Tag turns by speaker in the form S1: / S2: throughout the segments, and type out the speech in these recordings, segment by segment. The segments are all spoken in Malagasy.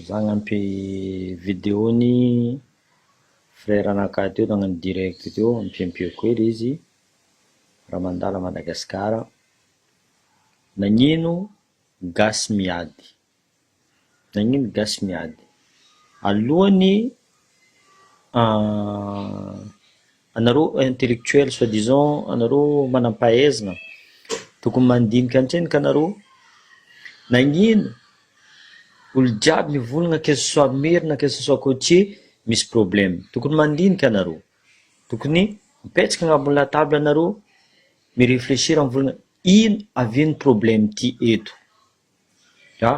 S1: Za hanampy video ny frère anakahy teo nagnano direct teo ampiampiako kely izy raha mandalo à Madagascar, nagnino gasy miady? Nagnino gasy miady? Alohan'ny Anareo intellectuel soit disant anareo manampahaizna tokony mandinika antreny ka anareo nagnino olo jiaby mivolagna que ce soit maire na que ce soit cotier misy problème tokony mandinika anareo tokony mipetraka agnabony latabla anareo mi reflechir mivolagna ino avy ny problème ty eto ka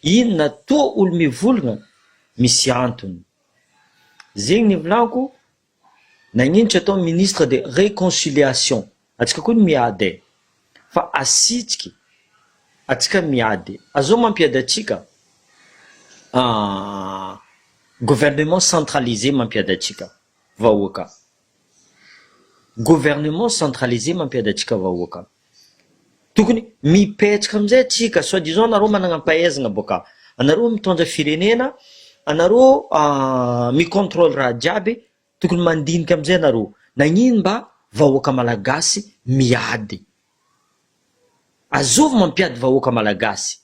S1: ino na toa olo mivolagna misy antony zegny ny volako Nagnino tsy atao ministre de reconciliation atsika koa ny miady eh! Fa asitsiky atsika miady azao mampiady atsika ah! Gouvernement centralisé mampiady atsika vahoaka, gouvernement centralisé mampiady atsika vahoaka. Tokony mipetraka amin'izay atsika soit disant nareo managna ampahaizagna boka anareo mitondra firenena anareo mi controle raha jiaby tokony mandinika amizay anareo nagnino mba vahoaka malagasy miady azovy mampiady vahoaka malagasy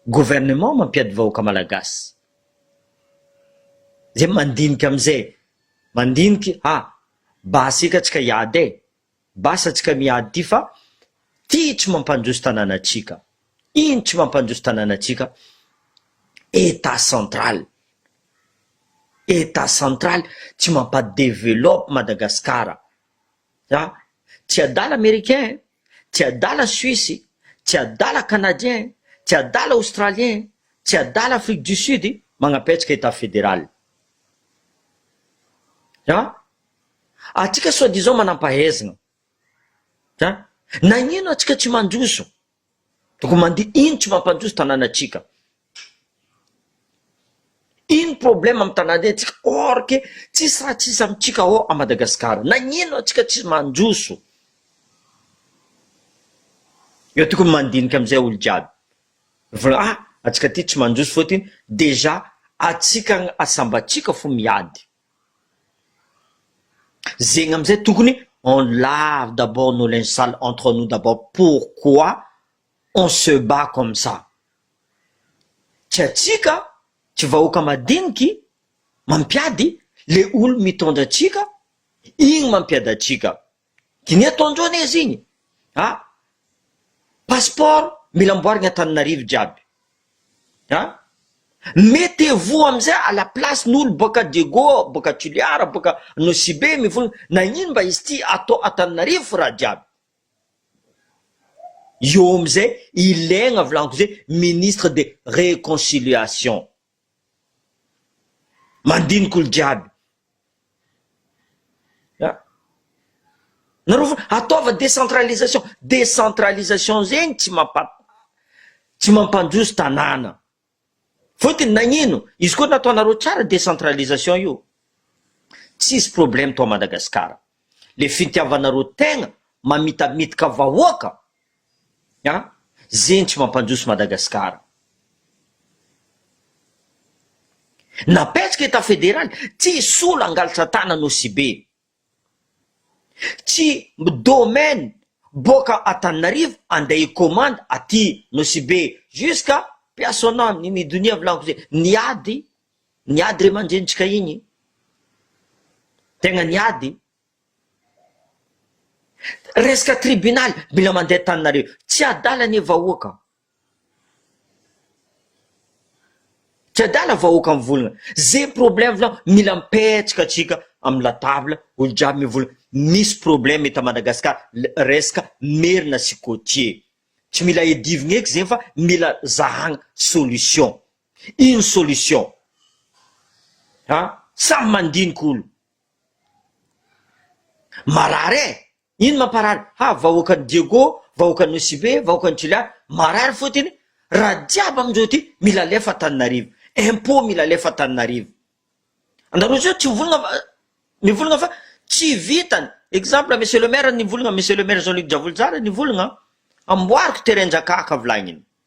S1: gouvernement mampiady vahoaka malagasy zay mandinika amizay mandinika ah basy eka atsika hiady e. Base antsika miady ty fa ty tsy mampandroso tananatsika ino tsy mampandroso tananatsika etat central etat central tsy mampa developpe Madagascar a tsy adala americain tsy adala suisse tsy adala canadien tsy adala australien tsy adala afrique du sud magnapetsaka etat federal a. Atsika soit disant manampahaizna a! Nagnino atsika tsy mandroso? Donc mande ino tsy mampandroso tananatsika? Ino problème am tananetsika or que tsisy raha tsisy amitsika ao a Madagascar? Nagnino atsika tsy mandroso? Eo tokony mandinika amizay olo jiaby fa a atsika ty tsy mandroso fôtiny dejà atsika asambatsika fô miady Zegny amizay tokony on lave d'abord nos linges sales entre nous d'abord pourquoi on se bat comme ça? tsy atsika tsy vahoaka madiniky mampiady le olo mitondra atsika igny mampiady atsika. Diniho ato androany aiza iny a! Passeport mila amboarigny Antananarivo jiaby a! Mettez-vous amizay à la place n'olo boaka Diego, boaka Toliara, boaka Nosibe mivony nagnino mba izy ty ato Antananarivo fo raha jiaby eo amizay ilegna volaniko zay ministre de reconciliation Mandinika olo jiaby. A! Nareo ve ataova décentralisation, décentralisation zegny tsy mampa tsy mampandroso tanàna. Fôtony nagnino? Izy koa nataonareo tsara décentralisation io, tsisy problème tao Madagasikara. Le fitiavanareo tegna mamitamitika vahoaka. A, zenitry mampandroso Madagasikara. Napetraka etat federaly, tsy solo hangalatra tanana Osibe. Tsy domaine boaka Antananarivo andeha hi commande aty Nosibe jusqu'à Piasona ny ny donia volagno ze niady niady ray aman-drenintsika igny tegna niady Resaka tribunaly mila mandeha tany nareo tsy adala anie vahoaka a. Tsy adala vahoaka mivolagna ze problème vao mila mipetraka tsika amin'ny la table olo jiaby mivolagna misy problème eto Madagascar resaka merina sy cotier tsy mila edivigna eky zegny fa mila zahagna solution ino solution an samy mandinika olo. Marary eh! Ino mamparary? Ha, vahoakan'i Diego, vahoakan'i Nosy-Be, vahoakan'i Juliana, marary fotiny, raha jiaby amindreo ity mila alefa Antananarivo, impôt mila alefa Antananarivo. Anareo zao tsy mivolagna fa, mivolagna fa tsy vitany, exemple monsieur le maire nivolagna, monsieur le maire Jean Luc Javolojara nivolagna, amboariko terrain-dRakahaka volagniny.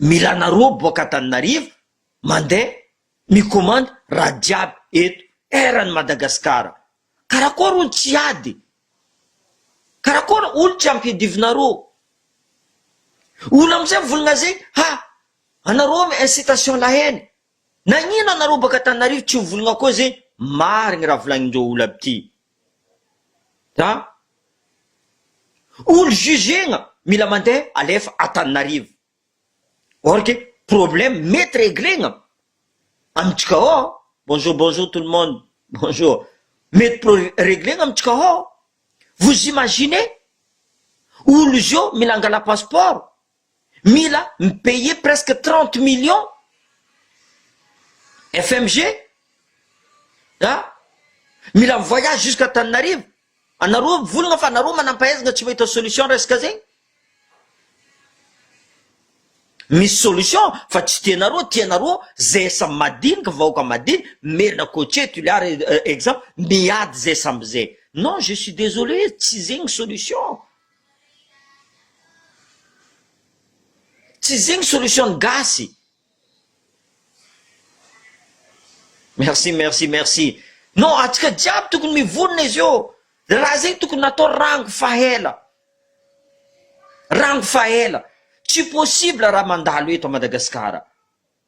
S1: Milana roa boaka Antananarivo mandeha mikomandy raha jiaby eto eran' i Madagasikara. Karakory hono tsy hiady? Karakory hono tsy hampiadivina roa? Hono amin'izay mivolagna zay ha anareo mi incitation la haine. Nagnino anareo boaka Antananarivo tsy mivolagna koa zay marigny raha volagnin-dreo olo aby ty? Za olo jugena mila mandeha alefa Antananarivo or que problème mety reglegna amintsika ao, bonjour bonjour tout le monde bonjour, mety pro reglegna amintsika ao, vous imaginez olo zao mila angala passeport mila mi payer presque trente millions FMG a mila mi voyage jusqu'à Antananarivo anareo mivolagna fa anareo manampahaizana tsy mahita solution resaka zegny misy solution fa tsy tianareo tianareo zay samy madinika vahoaka madinika merina cotier toliara exemple miady zay samby zay non je suis désolé tsy zegny solution Tsy zegny solution ny gasy. Merci merci merci non atsika jiaby tokony mivonona izy io le raha zegny tokony natao rango fa ela rango fa ela tsy possible raha mandalo eto a Madagasikara.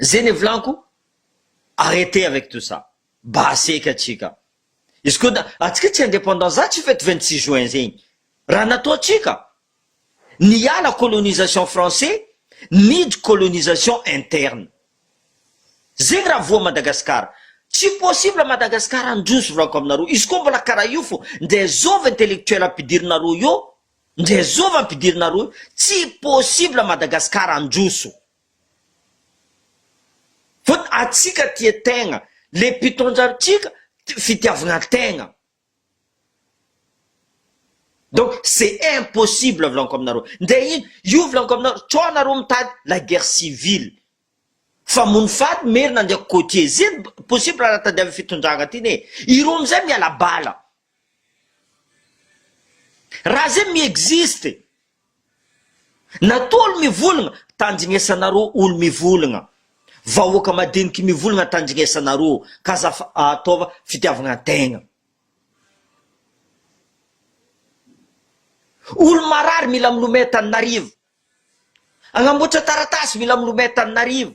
S1: Zay ny volako arrete avec tout ça mba aseka atsika izy ko da atsika tsy independant za tsy fety vingt six juin zegny raha natao atsika niala colonisation français nidry colonisation interne zegny raha voa Madagascar tsy possible Madagascar handroso volako aminareo izy ko mbola karaha io fo nde zovy intellectuel ampidirinareo eo Ndrezova ampidirina rohy tsy possible Madagascar handroso fony atsika tia tegna le mpitondra antsika fitiavagna tegna donc c'est impossible volanko aminareo ndre ino io volanko aminareo co nareo mitady la guerre civile famono faty merina ndreky côtier zeny possible raha tadiaviny fitondragna ty né ireo amizay miala bala Raha zay mi-existe. Nataolo mivolagna, tandrignesanareo olo mivolagna, vahoaka madiniky mivolagna tandrignesanareo ka za fa ataova fitiavagna tegna. Olo marary mila milomay taninarivo. Agnamboatra taratasy mila milomay taninarivo.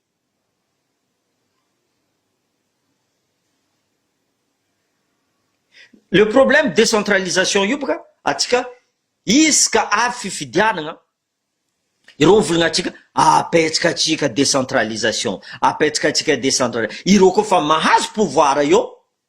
S1: Le problème décentralisation io bôka atsika izy ka avy fifidianagna ireo mivolagna atsika apetsaka atsika décentralisation apetsaka atsika décentralisation ireo koa efa mahazo pouvoir eo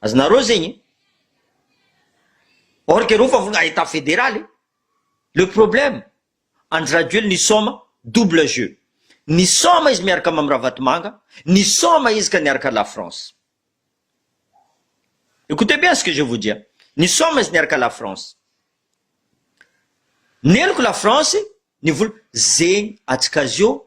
S1: Azonareo zegny e. Or que reo fa vonona état fédéral e. Le problème, Andry Rajoely nisaoma, double jeu. Nisaoma izy miaraka Mamy Ravatomanga, nisaoma izy ka niaraka la France. Écoutez bien ce que je vous dis, nisaoma izy niaraka la France. Neniko la France, ny vola, zegny atsika azy eo,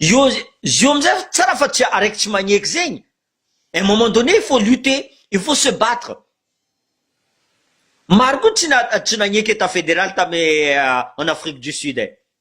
S1: Io io amizay tsara fa tsy araiky tsy magneky zegny un moment donné il faut lutter il faut se battre maro koa tsy na tsy nagneky etat federal tamy en Afrique du Sud e.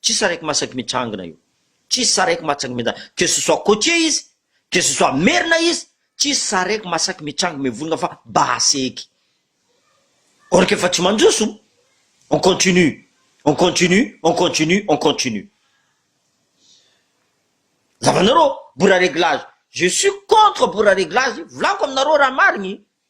S1: Tsisy araiky masaky mitrangina io. Tsisy saraiky matsaky mitranga. Que ce soit côtier izy, que ce soit merina izy, tsisy saraiky masaky mitranga mivonona fa basy eky. Or k'efa tsy mandroso, on continue, on continue, on continue, on continue. Zavanareo, bora reglage. Je suis contre bora reglage, volako aminareo raha marigny.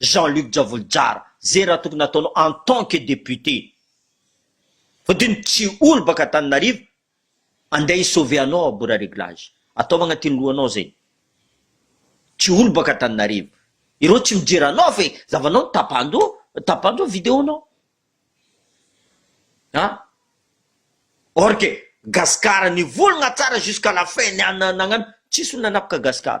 S1: Jean Luc Javolojara zay raha tokony ataonao en tant que député fa de ny tsy olo baka Antananarivo andeha hi sauver anao à bord réglage ataovy agnatin'ny lohanao zay tsy olo baka Antananarivo ireo tsy mijery anao fa zavanao no tapahan-doha tapahan-doha vidéo-nao an or que Gascar nivolagna tsara jusqu'à la fin ny an nagnano tsisy olo nanapaka Gascar.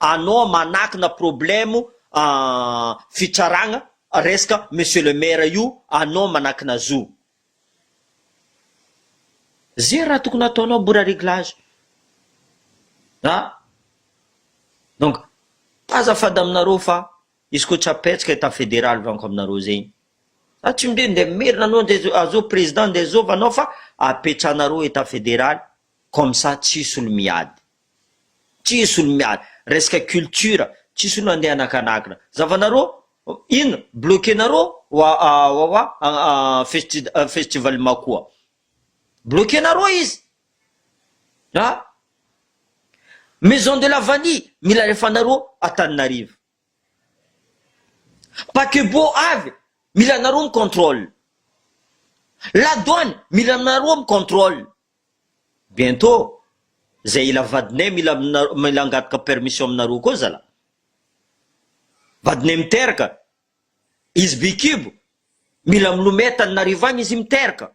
S1: Anao manakina problème fitsaragna resaka monsieur le maire io anao manakina zo. Ze raha tokony ataonao mora réglage a! Donc azafady aminareo fa izy koa tsy apetsaka etat fédéral vanko aminareo zegny za tsy mde nde merina anao nde azao président nde zova anao fa apetsahanareo etat fédéral comme ça tsisy olo miady. Tsisy olo miala. Resaka culture. Tsisy olo andeha anakanakina. Zavanareo? Inona? Bloquer nareo? Wawawa festi- festival Makoa. Bloquer nareo izy. An? Maison de la vanille mila alefanareo Antananarivo. Paquebot avy, mila anareo mi controle. La douane, mila anareo mi controle. Bientot, zay ila vadinay mila aminareo, mila angataka permission aminareo koa zalah. Vadinay miteraka, izy bikibo, mila milomay Tananarivo agny izy miteraka.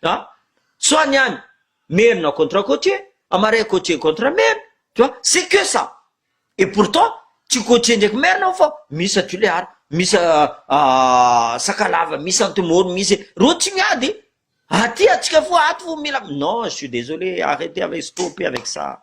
S1: tu vois, soit ny any merina contre cotier, a marais cotier contre merina, tu vois, c'est que ça, et pourtant tsy cotier ndraiky merina ao fa misy a tulear, misy a sakalava, misy antemoro, misy reo tsy miady, aty atsika foa ato vo mila, non je suis desolé arretez avec, stoppez avec ça.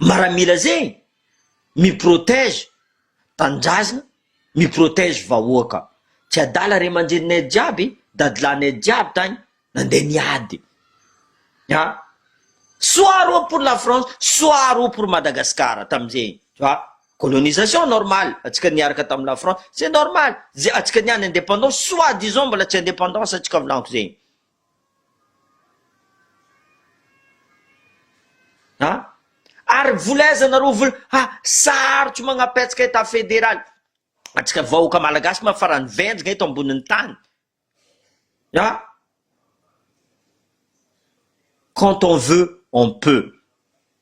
S1: Maramila zegny mi protège tanindrazagna mi protège vahoaka tsy adala ray aman-dreninay jiaby dadilahinay jiaby tagny nandeha niady a soit reo pour la France soit reo pour Madagascar tamin'izegny tu vois colonisation normal antsika niaraka tamin'i la France c'est normal ze antsika niany indépendance soit disons mbola tsy indépendance antsika volaniko zegny Ary vola aiza nareo vola ha sarotra manapetsaka etat federal atsika vahoaka malagasy ma farany venjina eto amboniny tany a quand on veut on peut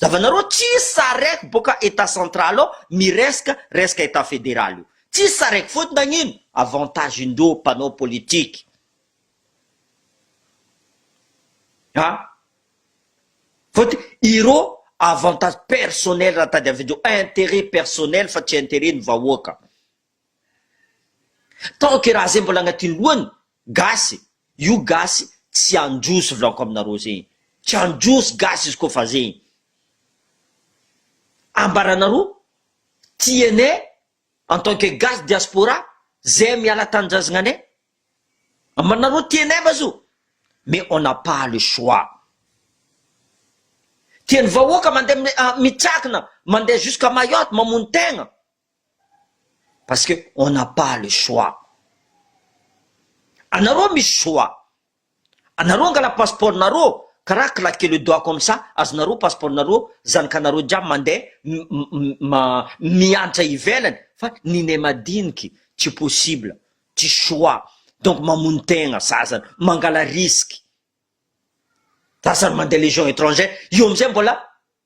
S1: Zavanareo tsisy sareko boka etat central ao mireska reska etat federal io tsisy sareko faute nagnino avantage ndreo mpanao politique a faute ireo avantage personnel raha tadiavindreo interet personnel fa tsy interet ny vahoaka. Taoke raha zay mbola agnaty lohany gasy io gasy tsy androso vlako aminareo zegny tsy androso gasy izy kofa zegny ambaranareo tianay en tant que gasy diaspora zay miala tanindrazgnanay ambaranareo tianay va zo mais on a pas le choix tiany vahoaka mande mitsakina mande jusqu'à mayotte mamono tegna Parce que on n'a pas le choix. Anareo misy choix. Anareo angala passeport nareo karaha claquer le doigt comme ça azonareo passeport nareo, zanakanareo jiaby mandeha miantra ivelany fa ny ne madiniky tsy possible, tsy choix donc mamono tegna sasany, mangala risque. Sasany mandeha legion etrangère, io amizay mbola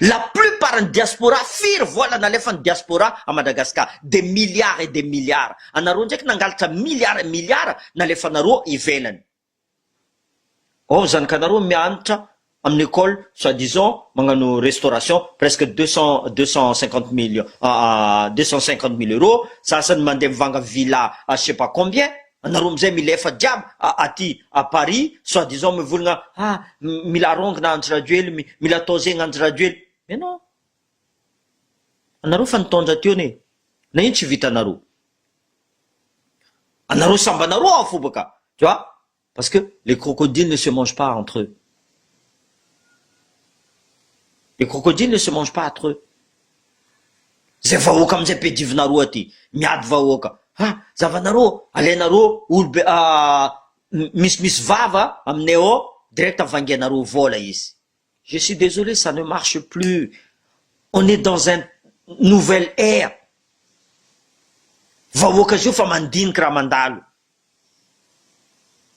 S1: La plupart ny diaspora firy vola nalefan'ny diaspora à Madagascar? Des milliards et des milliards. Anareo ndraiky nangalatra milliards et milliards nalefanareo ivelany. Ao zanakanareo mianatra amin'ny école soit disant magnano restauration presque deux cent deux cent cinquante millions deux cent cinquante mille euros, sasany mandeha mivanga villa à je sais pas combien. Anareo amizay mila efa jiaby aty à Paris soit disant mivolagna ha mila arongana Andry Rajoely mila atao zegny Andry Rajoely mais non anareo efa nitondra teo ne na ino tsy vitanareo anareo sambanareo ao foba ka tu vois parce que les crocodiles ne se mangent pas entre eux les crocodiles ne se mangent pas entre eux Zay vahoaka amizay be divinareo aty miady vahoaka ha zavanareo alainareo olo be misy misy vava aminay ao direct vangianareo vola izy. Je suis desolé ça ne marche plus on est dans un nouvel ère vahoaka zao efa mandinika raha mandalo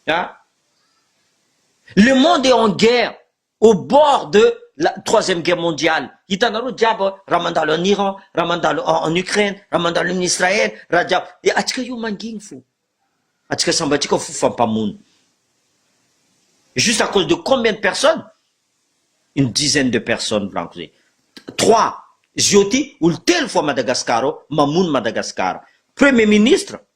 S1: a le monde est en guerre au bord de la troisième guerre mondiale hitanareo jiaby raha mandalo en Iran raha mandalo en Ukraine raha mandalo en Israël raha jiaby dia atsika io manginy fo atsika samby atsika fo fa mpamono juste à cause de combien de personnes une dizaine de personnes volaniko zay trois zio ty olo telo fo à Madagascar ao mamono Madagascar premier ministre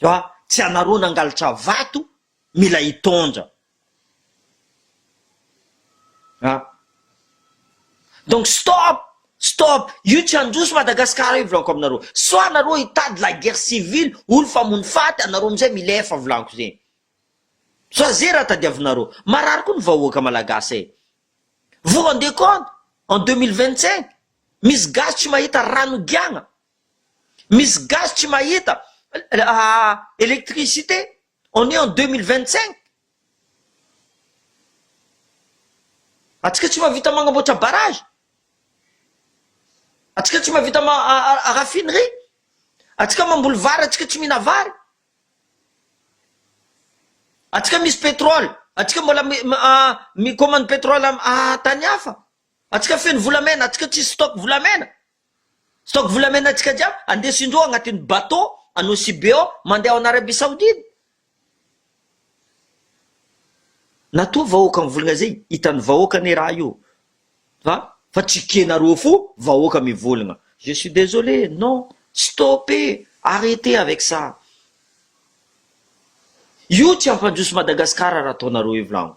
S1: Fa tsy anareo nangalatra vato mila hitondra a! Donc stop! Stop! Io tsy handroso Madagascar io volanko aminareo. Soit nareo hitady la guerre civile, olo famono faty, anareo amizay milefa volanko zegny. Soit ze raha tadiavinareo. Marary koa ny vahoaka Malagasy e! Vous rendez compte? En deux mille vingt cinq? Misy gasy tsy mahita rano higiagna? Misy gasy tsy mahita electricité on est en deux mille vingt cinq atsika tsy mahavita magnamboatra barrage atsika tsy mahavita raffinerie atsika mamboly vary atsika tsy mihina vary atsika misy petrole atsika mbola mikomany petrole tany hafa atsika feno volamena atsika tsisy stock volamena Stock volamena antsika jiaby andeso indroa agnatin'ny bateau anao Sibeo mandeha ao en Arabie Saoudite. Natoa vahoaka mivolagna zay hitan'ny vahoaka anie raha io fa fa tsy kena roa fo vahoaka mivolagna je suis désolé non stopper arreter avec ça io tsy hampandroso Madagascar raha ataonareo io volagno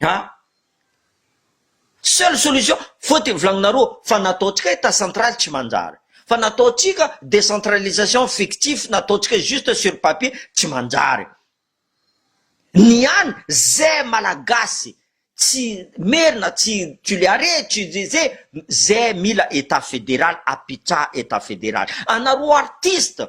S1: Ha? Seule solution, faute volagninareo fa nataontsika etat central tsy manjary, fa nataontsika décentralisation fictif nataontsika juste sur papier tsy manjary. Ny an ze malagasy tsy merina tsy tuleare tsy ze ze ze mila etat federal apitraha etat federal. Anareo artiste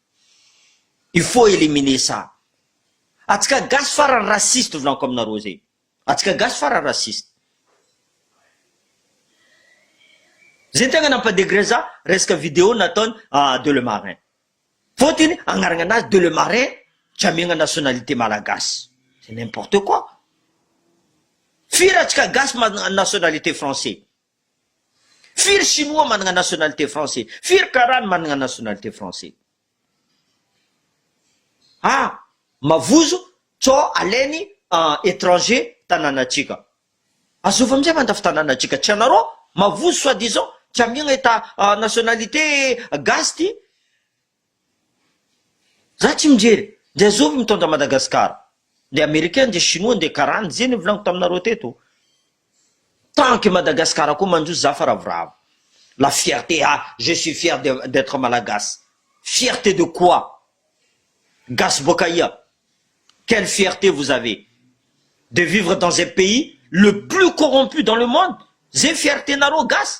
S1: Il faut éliminer ça. Atsika gasy farany raciste volako aminareo zay. Atsika gasy farany raciste. Zay ny tegna nampa degrer za resaka video nataony de le marin. Fôtiny agnaragna anazy de le marin tsy amiagna nationalité malagasy. C'est n'importe quoi. Firy atsika gasy manana nationalité français. Firy chinois managna nationalité français? Firy karaha no managna nationalité français? Ah! Mavozo co alainy étranger tananatsika. Azovy amizay mandafy tananatsika tsy anarô mavozo soit disant tsy amiagna eta nationalité gasy ty. Za tsy mijery, ndeha zovy mitondra Madagascar, ndeha americain, ndeha chinois, ndeha karana, izay nivolaniko taminareo teto, tant que Madagascar koa manjo za fa ravoravo, la fierté ah je suis fier de d'etre malagasy, fierté de quoi? gasy boaka aia? quelle fierté vous avez? de vivre dans un pays le plus corrompu dans le monde? zay fierté nareo gasy?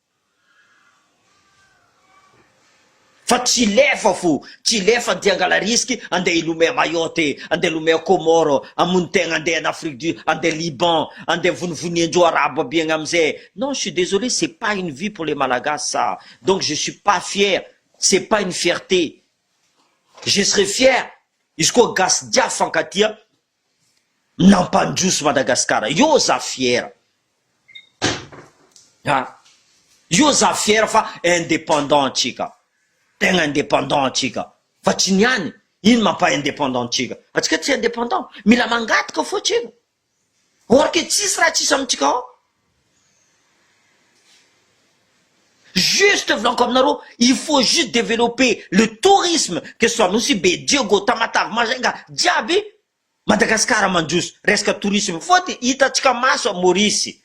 S1: Fa tsy lefa fo, tsy lefa anty angala risque andeha hilomey à Mayotte, andeha hilomey à Comores, hamono tegna andeha any Afrique du andeha Liban, andeha vonivonian-jo arabo aby agny amizay, non je suis désolé c'est pas une vie pour les Malagasy ça, donc je suis pas fier, c'est pas une fierté, je serai fier izy koa gasy jiaby fankatia Nampandroso Madagascar io za fiera a! Io za fiera fa indépendant antsika, tegna indépendant antsika fa tsy ny any, ino mampa indépendant antsika? Antsika tsy indépendant, mila mangataka fô tsika, or que tsisy raha tsisy amintsika ao. Juste volanko aminareo, il faut juste developper le tourisme, que ce soit Nosy-Be, Diego, Tamatave, Majunga, jiaby Madagascar mandroso resaka tourisme fa dia hitantsika maso à Maurice.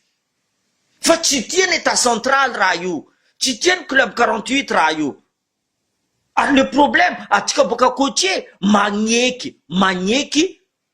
S1: Fa tsy tia ny Etat central raha io, tsy tia ny club quarante huit raha io. Ary le problème, antsika boaka côtier magneky, magneky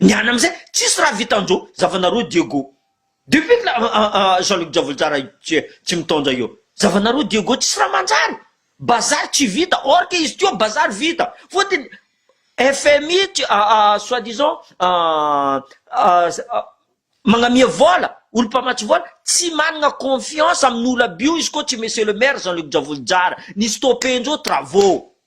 S1: Ny any amizay tsisy raha vitanjo zavanareo Diego depuis kla Jean Luc Javolojara tsy mitaonja io zavanareo Diego tsisy raha manjary bazary tsy vita or que izy teo bazary vita fotony FMI soit disant magnamia vola olo mpamatsy vola tsy manana confiance amin'olo aby io izy ko tsy monsieur le maire Jean Luc Javolojara ni stopper njo travaux.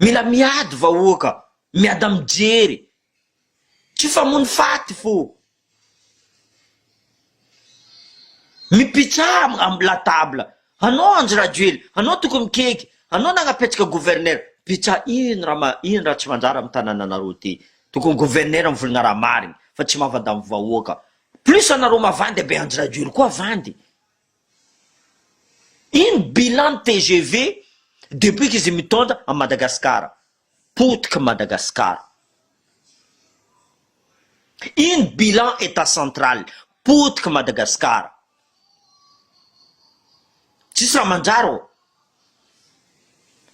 S1: Mila miady vahoaka, miada mijery. Tsy famono faty fô mipitsaha am la table. Anao Andry Rajoely, anao tokony mikeiky, anao nagnapetraka gouverneur, mpitsaha ino raha ma ino raha tsy manjary am tanananareo ty. Tokony gouverneur mivolagna raha marigny fa tsy mavada am vahoaka. Plus anareo mavandy be Andry Rajoely koa vandy. Ino bilan ny tgv depuis qu'izy mitondra an'i Madagascar? Potiky Madagascar. Ino bilan etat central? Potiky Madagascar. Tsisy raha mandrara ô.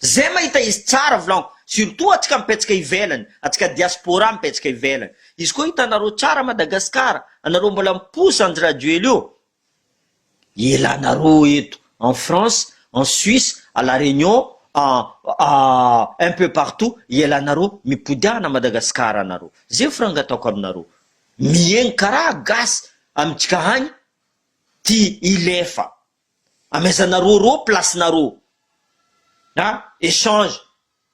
S1: Zay mahita izy tsara volagno, surtout atsika mipetsaka ivelany, atsika diaspora mipetsaka ivelany. Izy koa hitanareo tsara Madagascar, anareo mbola miposa Andry Rajoelina io. Elanareo eto en France, en Suisse, à la Réunion, à à un peu partout elanareo mipody ana Madagascar anareo. Zay franga ataoko aminareo. Mihaino karaha gasy amintsika agny ty hilefa. Amaizanareo reo place nareo. A échange.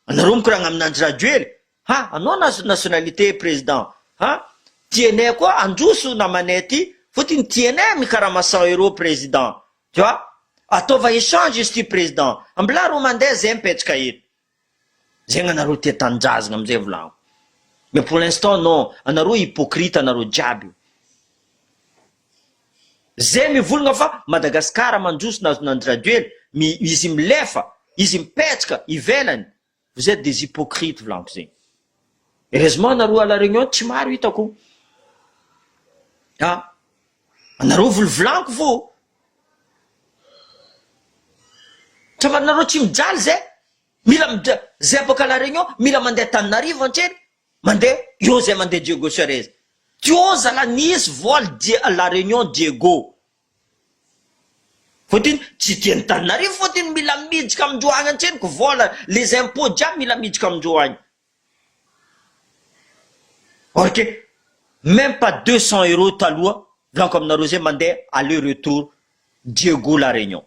S1: Anareo mikoragna aminanjy Rajoely Ha anao nationalité président ha tienay koa androso namanay ty fotiny tienay mikarama cent euro président tu vois ataova échange izy ty président mblà ro mandeha zay mipetraka eto zegny anareo tia tanindrazagna amizay volagniko mais pour l'instant non anareo hypocrite anareo jiaby zay mivolagna fa Madagascar mandroso nazo nandry rajoely mi izy milefa izy mipetraka ivelany Vous etes des hypocrites volampy zegny. Heureusement nareo à la réunion tsy maro hitako. Ah, anareo volovolanko vo. Travanareo tsy mijaly zay, mila mija, zay afaka à la réunion mila mandeha Tananarivo antrely, mandeha eo zay mandeha Diego Suarez. Teo zala nisy vol dia à la réunion Diego. Voatery tsy dia ny taninarivo voatery mila miditra amindreo any antsena ko vola les impôts jiaby mila miditra amindreo any or que meme pas deux cent euros taloha volaniko aminareo zay mandeha aller retour Diego la Réunion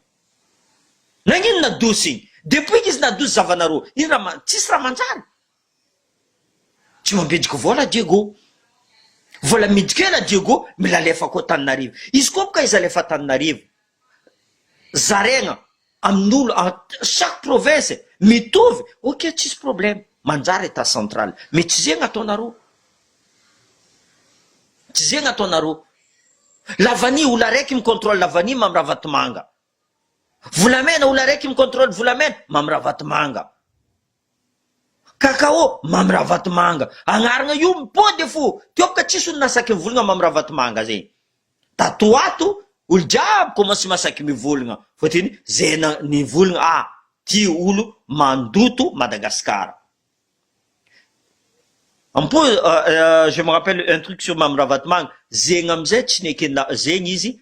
S1: nagnino nadosy igny depuis k'izy nadosy zavanareo ino raha tsisy raha manjary Tsy mampidiky vola Diego. Vola amidy kena Diego milalef ako Antananarivo. Izy koa bka izy alef Antananarivo. Zaregna aminolo en chaque province mitovy ok tsisy problème manjary etat central mais tsy zegny ataonareo. Tsy zegny ataonareo. La vanille olo araiky mi controle la vanille Mamy Ravatomanga. Volamena olo araiky mi controle volamena Mamy Ravatomanga. Cacao, Mamy Ravatomanga agnaragna io mipody fo teo ka tsisy olona saky mivolagna Mamy Ravatomanga zegny tato ato olo jiaby commence masaky mivolagna fôtiny ze na nivolagna ah ty olo mandoto Madagascar ampo je me rappelle un truc sur Mamy Ravatomanga zegny amizay tsy nekena zegny izy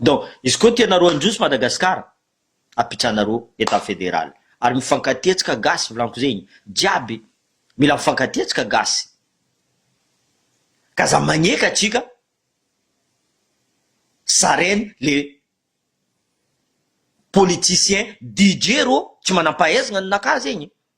S1: Donc izy koa tianareo handroso Madagascar apitranareo etat federal ary mifankatia atsika gasy volanko zegny jiaby mila mifankatia atsika gasy k'aza magneky atsika sarene le politicien DJ rô tsy manampahaizagna ny naka zegny.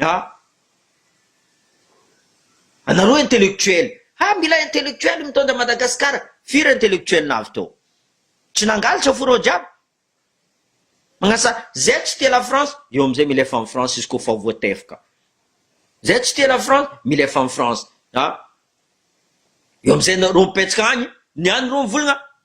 S1: Ha! Anareo intellectuel! Ha! Mila intellectuel mitondra Madagascar! Firy intellectuel navy tao? Tsy nangalatra fo reo jiaby? Magnasa zay tsy tia la France eo amizay mila efa am France izy ko fa voatefoka. Zay tsy tia la France mila efa am France. Ha! Eo amizay reo mipetsaka agny, ny any reo mivolagna.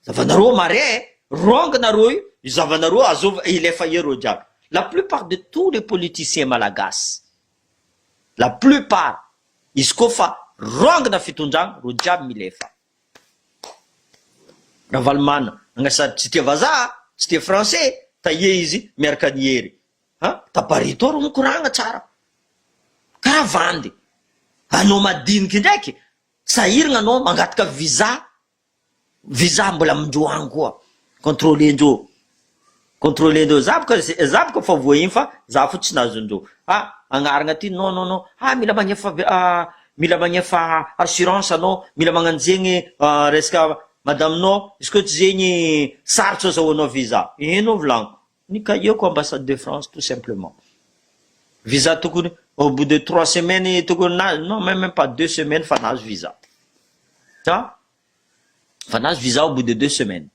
S1: Zavanareo mare eh! Wrong nareo io, io zavanareo azova hilefa eo reo jiaby. La plupart de tous les politiciens malagasy, la plupart, izy koa fa wrong na fitondragna reo jiaby milefa. Ravalomana agna sady tsy tia vazaha, tsy tia français, taie izy miaraka an'i Hery. Ha? Taparito reo mikoragna tsara. Karaha vandy. Anao madiniky ndraiky, sahiragna anao mangataka visa visa mbola amindreo any koa controler ndreo controler ndreo za boka za boka efa voahiny fa za fo tsy nahazo ndreo ah agnarana aty non non non ah mila magnefa mila magnefa assurance anao mila magnano zegny resaka madame nao izy ko tsy zegny sarotro azahoanao visa ino volagniko Ny cahier-ko ambassade de France tout simplement. Visa tokony au bout de trois semaines tokony nahazo non même pas deux semaines fa nahazo visa. Fa fa nahazo visa au bout de deux semaines.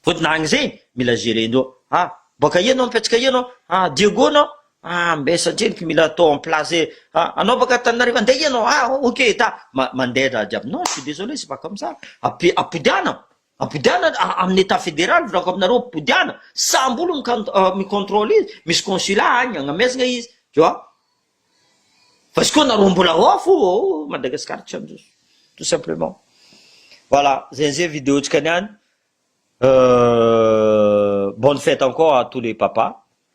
S1: Fotony agny zegny mila gerer-ndreo. Ah boaka aia anao mipetraka aia anao? Ah Diego anao? Ah mbe satria eky mila atao en place e. Ah anao baka Antananarivo andeha aia anao? Ah ok ta ma mandeha raha jiaby. Non je suis désolé c'est pas comme ça. Api- apodiana. Abodiana amin'ny etat federal volako aminareo abodiana sambo olo mi controle izy misy consulat agny agnamezagna izy tu vois fa izy koa nareo mbola ao fo oh Madagascar tsy handroso tout simplement voilà zay zay video tsika niany euh bonne fête encore à tous les papas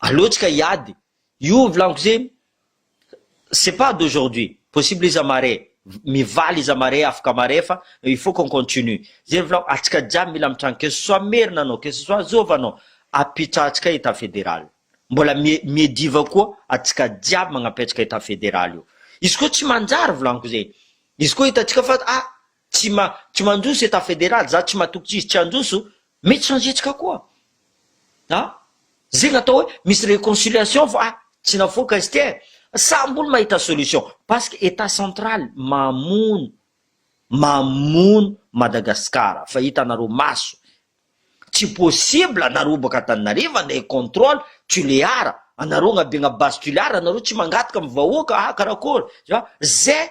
S1: Aleo tsika hiady. Io vilaniko zay c'est pas d'aujourd'hui, possible iza mare, mivaly iza mare afaka mare fa il faut qu'on continue. Zay ny vilaniko, atsika jiaby mila mitranga que ce soit merina anao, que ce soit zôva anao, apitrahatsika état fédéral. Mbola mi miediva koa atsika jiaby magnapetraka état fédéral io. Izy koa tsy manjary vilaniko zay, izy koa hitantsika fa ah tsy ma tsy mandroso etat federal za tsy matoky tsisy tsy handroso mety sanzetsika koa a zegny atao hoe misy reconciliation fa tsy nafoaka izy ty e samby olo mahita solution paske etat central mamono mamono madagasikara fa hitanareo maso tsy possible anareo baka antananarivo andeha controle tulear anareo agnabe agna base tulear anareo tsy mangataka amy vahoaka ah karakôry za ze